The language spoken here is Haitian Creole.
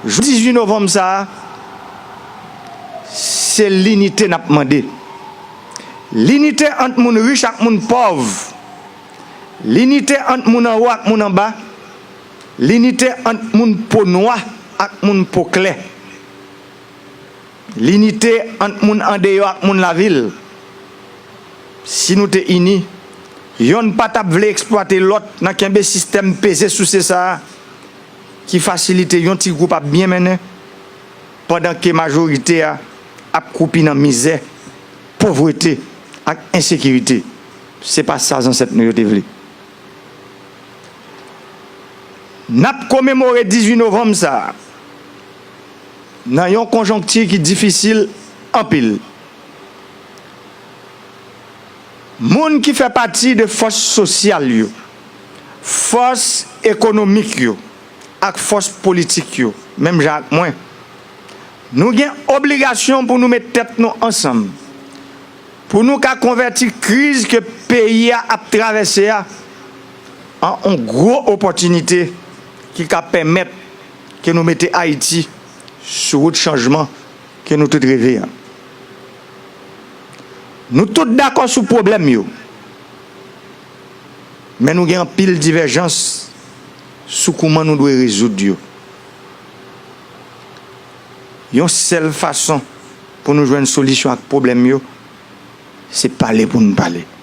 Jou 18 novanm sa a, se linite n ap mande. Linite ant moun rich ak moun pòv. Linite ant moun anwo ak moun anba. Linite ant moun po nwa ak moun po klè. Linite ant moun andeyò ak moun lavil. Si nou te ini, yonn pa t ap vle eksplwate lòt nan kenbe sistèm peze souse sa a ki fasilite yon ti gwoup ap byen mennen pandan ke majorite a ap kwoupi nan mizè, povrete ak ensekirite. Se pa sa zansèt nou yo te vle. N ap komemore 18 novanm sa a. nan yon konjonkti ki difisil anpil. Moun ki fè pati de fòs sosyal yo, fòs ekonomik yo ak fòs politik yo, menm jan ak mwen, nou gen obligasyon pou nou met tèt nou ansanm pou nou ka konvèti kriz ke peyi a ap travèse a an on gwo opòtinite ki ka pèmèt ke nou mete Ayiti sou wout chanjman ke nou tout reve an. Nou tout dakò sou pwoblèm yo, men nou gen anpil divèjans sou kouman nou dwe rezoud yo. Yon sèl fason pou nou jwenn solisyon ak pwoblèm yo, se pale pou nou pale.